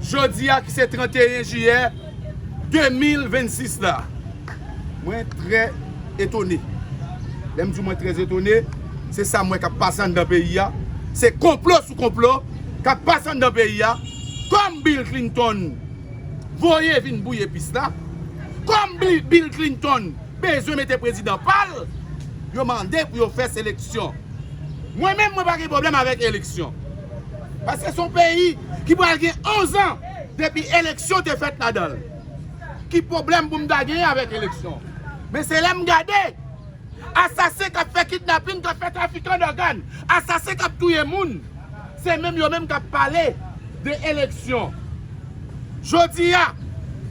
jodi a ki se 31 jiyè 2026 la. Mwen trè etone. Lè m di w mwen trè etone, se sa m wè k ap pase anndan peyi a. Se konplo sou konplo k ap pase anndan peyi a. Kòm Bill Clinton voye vin bouye pis la. Kòm Bill Clinton. bezwen mete prezidan pal yo mande pou yo fè seleksyon mwen menm mwen pa gen problèm avèk eleksyon paske son peyi ki pral gen 11 ans depi eleksyon te fèt ladanl ki problèm pou m ta gen avèk eleksyon men se lèm gade asasen kap fè kidnapin kap fè trafikan dògan asasen kap touye moun. Se menm yo menm k ap pale de eleksyon. Jodi a,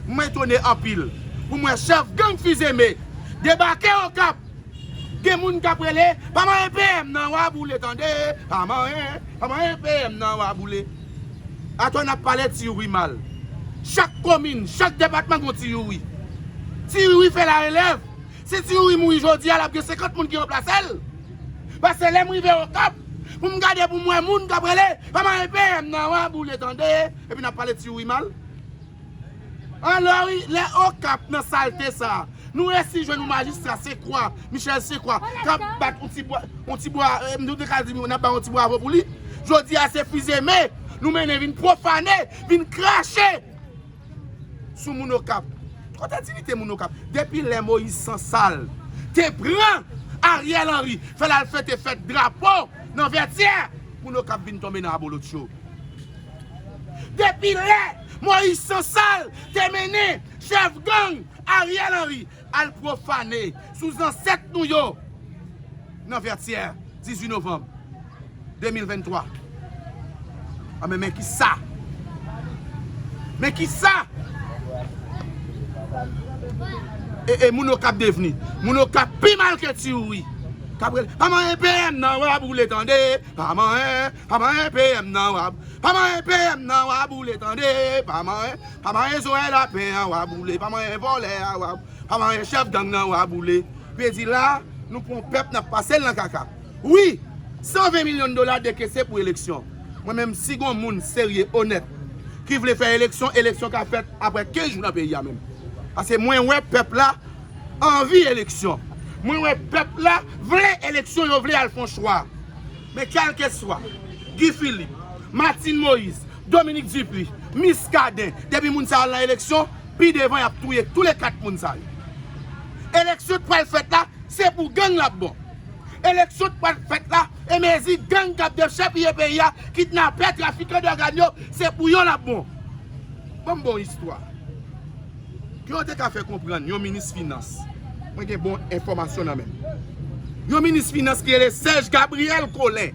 m etone anpil pou m wè chèf gang Fils-Aimé debake Okap. Gen moun k ap rele, Pa manyen PM nan, w a boule tande! Pa manyen, pa manyen PM nan, w a boule! Atò n ap pale ti youri mal. Chak komin, chak depatman gen yon ti youri. Ti youri fè larelèv, Si ti youri mouri jodia lap gen 50 moun ki ranplasel pase lèm rive okap poum gade poum wè moun kap rele pa mare PM nan wa boule tande epi nap pale ti youri mal alò wi lè okap nan salte sa nou resi jwenn yon majistra se kwa michel se kwa kap bat yon ti bwa yon ti bwa nou te ka di nap bay yon ti bwavo pou li jodia se fizeme nou mennen vin profane vin krache. sou moun okap kote diyite moun okap depi lè moyiz sansal te pran ariel henry fèl al fete fèt drapo nan vètyè moun okap vin tonbe nan abolotcho depi lè moyiz sansal te mennen chèf gang ariel henry. Al pwofane sou zansèt nou yo nan Vètyè 18 novanm 2023 anben men kisa men kisa ee moun okap devni moun okap pi mal ke tiyouri kap rele pa manyen PM nan wap woule tande pa manyen Pa manyen PM nan wa Pa manyen PM nan wa boule tande Pa manyen Pa manyen zo e lapen an wa boule Pa manyen vòlè a wa Pa manyen chèf gang nan wa boule Vle di la nou pran yon pèp nap pasel nan kaka wi 120 milyon dola dekese pou eleksyon mwen menm si gon moun serye onèt ki vle fè eleksyon eleksyon ka fèt aprè 15 jou nan peyi a menm pase mwen wè pèp la anvi eleksyon mwen wè pèp la vle eleksyon yo vle al fon chwa. Men kèlkeswa, Guy Philippe, Martine Moïse, Dominique Dupuy, Muscadin, depi moun sa yo al nan eleksyon, pi devan yap touye tou le 4 moun sa yo. Eleksyon k pral fèt la, se pou gang lap bon. Eleksyon k pral fèt la, e mezi gang kap dechèpiye peyi a, kidnapè, trafikan dògan yo, se pou yo lap bon. Banm bon istwa. Ke yo te ka fè konprann yon minis finans, mwen gen bon enfòmasyon nan menm, yon minis finans ki rele Serge Gabriel Collin,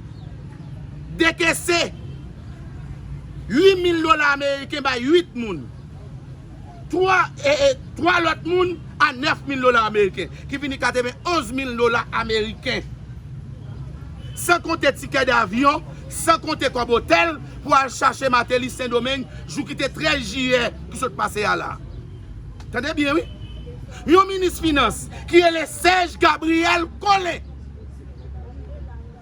dekese 8 mil dola ameriken bay 8 moun, 3 lòt moun a 9 mil dola ameriken, ki vini 91 mil dola ameriken. San konte tikè davyon, san konte kòb otèl pou al chache Martelly Sendomeng jou ki te 13 jiyè. ki sot pase a la. Tande byen wi. Yon minis finans ki rele Serge Gabriel Collin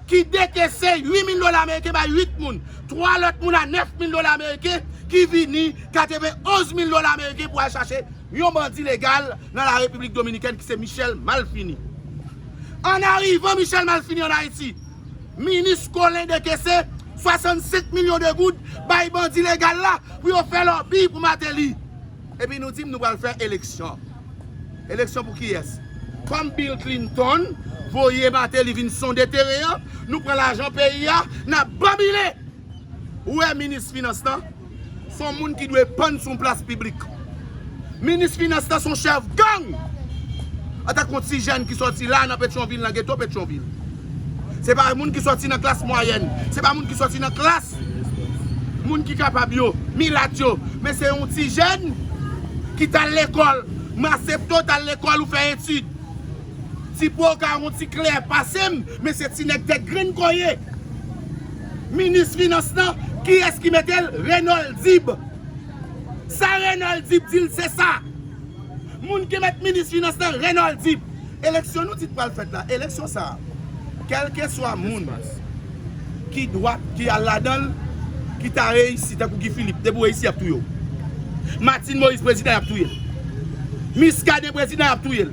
ki dekese 8 mil dola ameriken bay 8 moun, 3 lòt moun a 9 mil dola ameriken ki vini katebe 11 mil dola ameriken pou al chache yon bandi legal nan la Repiblik Dominikèn ki se Michel Malfini. An arivan Michel Malfini an Ayiti, Minis Colin dekese 65 milyon de goud bay bandi legal la pou yo fè lòbi pou Mateli. Epi nou dim nou pral fè eleksyon. Eleksyon pou kiyès? Kòm Bill Clinton voye Mateli vin sonde teren an, nou pran lajan peyi a, nap banbile! Ou wè minis finans lan son moun ki dwe pann sou yon plas piblik. Minis finans lan son chèf gang! An tanke yon ti jèn ki sòti la nan Petyonvil, nan geto Petyonvil. Se pa moun ki sòti nan klas mwayèn, se pa moun ki sòti nan klas moun ki kapab yo, milat yo, men se yon ti jèn ki t al lekòl. Masepto t al lekòl ou fè etid. Ti po w ka yon ti klè pase m, men se ti nèg tèt grenn kò w ye. Minis finans lan kiyès ki metel Renold dib sa Renold dib dil sesa moun ki met minis finans lan Renold dib. Eleksyon nou di ki pral fèt la eleksyon sa kèlkeswa moun ki dwat ki al ladanl ki ta reyisi tankou Guy Philippe depi ou reyisi yap touyew Martine Moïse prezidan yap touyel Muscadin prezidan yap touyel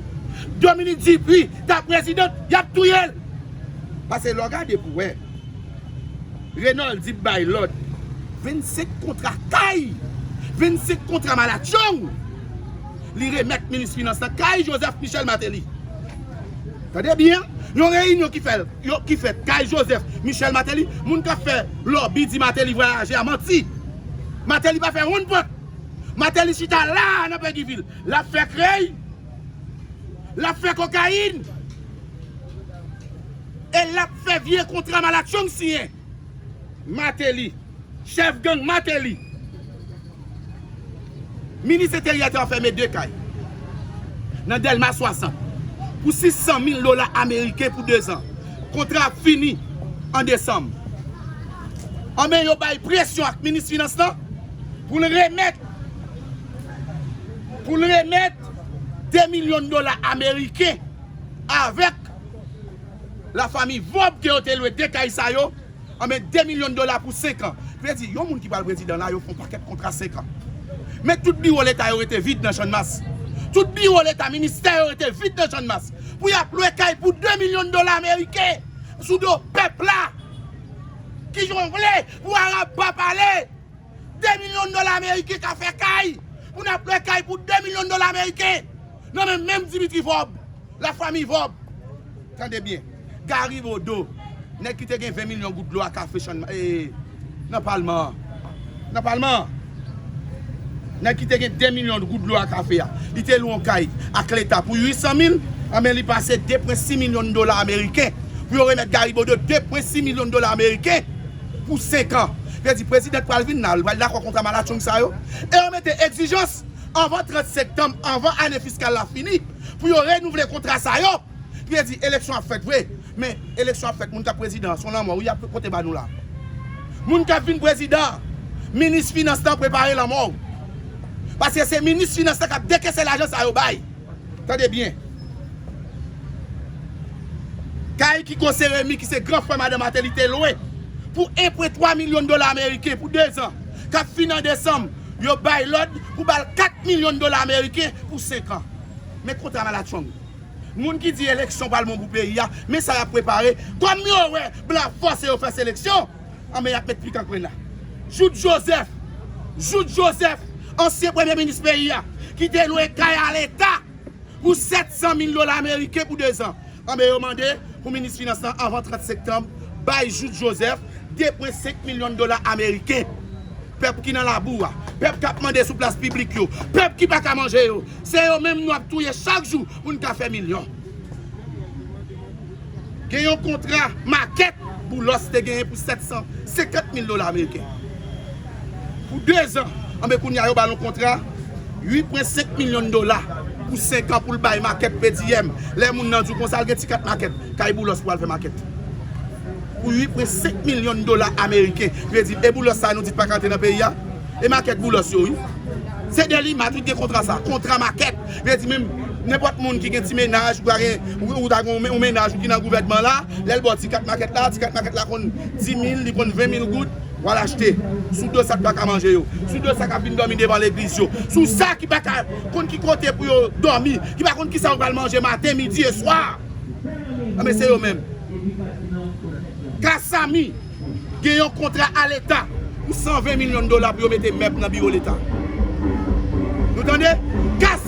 Dominique Dupuy ta prezidant yap touyel pase lè w gade pou wè. Renoldy bay lòd. 25 kontra kay! 25 kontra malatchong! Li remèt minis finans la kay Joseph Michel Martelly. Tande byen, yon reyinyon ki fèt kay Joseph Michel Martelly, moun k ap fè lòbi di Martelly vwayaje a manti. Martelly pa fè wonn pòt. Martelly chita la a nan Peguiville, l ap fè krèy. Lap fè kokayin e lap fè vye kontra malatchong siyen. Mateli. Chèf gang Mateli. Minis enteryè te anfème 2 kay nan Dèlma 60 pou 600 mil dola ameriken pou 2 zan. Kontra ap fini an desanm. Anben yo bay presyon ak minis finans lan pou l remèt. pou l remèt 2 milyon dola ameriken avèk la fami Vob ke yo te lwe 2 kay sa yo anben 2 milyon dola pou 5 an vle di yon moun ki pral prezidan la yo fon pakèt kontra 5 an men tout biwo leta yo rete vid nan channmas tout biwo leta ministè yo rete vid nan channmas pou y ap lwe kay pou 2 milyon dola ameriken sou do pèp la ki jongle pou arab pa pale. 2 milyon dola ameriken ka fè kay pou n ap lwe kay pou 2 milyon dola ameriken nan men menm Dimitri Vorb, la famiy Vorb. Tande byen, Gari Bodo, nèg ki te gen 20 milyon goud dlo a kafe Channmas, ee, nan palman an, nan palman an, nèg ki te gen 2 milyon goud dlo a kafe a, li te lwe yon kay ak leta pou 800 mil, anben li pase 2 pwen 6 milyon dola ameriken pou yo remèt Gari Bodo 2 pwen 6 milyon dola ameriken Pou 5 an. Yo di prezidan pral vin la, li pral dakò kontra malatchong sa yo. E yo mete egzijans anvan 30 sektanm, anvan ane fiskal la fini, pou yo renouvle kontra sa yo. Pou yo di eleksyon ap fèt vre. Men, eleksyon ap fèt, moun kap prezidan an, son lanmò wi yap pote ba nou la. Moun kap vin prezidan an, minis finans lan prepare lanmò ou. Paske se minis finans lan kap dekese lajan sa yo bay. Tande byen. Kay Kiko Seremi ki se gran frè madan Mateli te lwe pou enpre 3 milyon dola ameriken pou 2 zan k ap fini an desanm, yo bay lòd pou ba l 4 milyon dola ameriken pou 5 an. Men kontra malatchong. Moun ki di eleksyon pral bon pou peyi a, men sa y ap prepare, kòm yo wè blan fòse yo fè seleksyon, Anben y ap met pikan kwenna. Jout Jozèf Jout Jozèf, ansyen premye minis peyi a, ki te lwe kay a leta pou 700 mil dola ameriken pou dezan. Anben yo mande pou minis finans lan anvan 30 sektanm bay Jout Jozèf 2,5 milyon dola ameriken. Pèp ki nan labou a, pèp k ap mande sou plas piblik yo, pèp ki pa ka manje yo, se yo menm nou ap touye chak jou pou n ka fè milyon. Gen yon kontra makèt Boulos te genyen pou 750 mil dola ameriken. Pou 2 zan. Anben kounye a yo ba l yon kontra 8,5 milyon dola pou 5 an pou l bay makèt PDM. Lè moun nan di w konsa l gen ti kat makèt kay Boulos pou al fè makèt. Pou 8,5 milyon dola ameriken. Vle di e Boulos sa nou di pa ka antre nan peyi a? E makèt Boulos yo wi. Se Delima ki te gen kontra sa. Kontra makèt. Vle di menm nenpòt moun ki gen ti mennaj ou ta gen ou ta gen yon mennaj ou ki nan gouvènman la lèl baw ti kat makèt la ti kat makèt la konn 10000 li konn 20000 goud wal achte sou do sak paka manje yo sou do sa kap vin dòmi devan legliz yo sou sa ki paka konn ki kote pou yo dòmi ki pa konn kisa yo pral manje maten midi e swa anben se yo menm kasamy gen yon kontra a leta pou 120 milyon dola pou yo mete mèb nan biwo leta nou tande kasamy.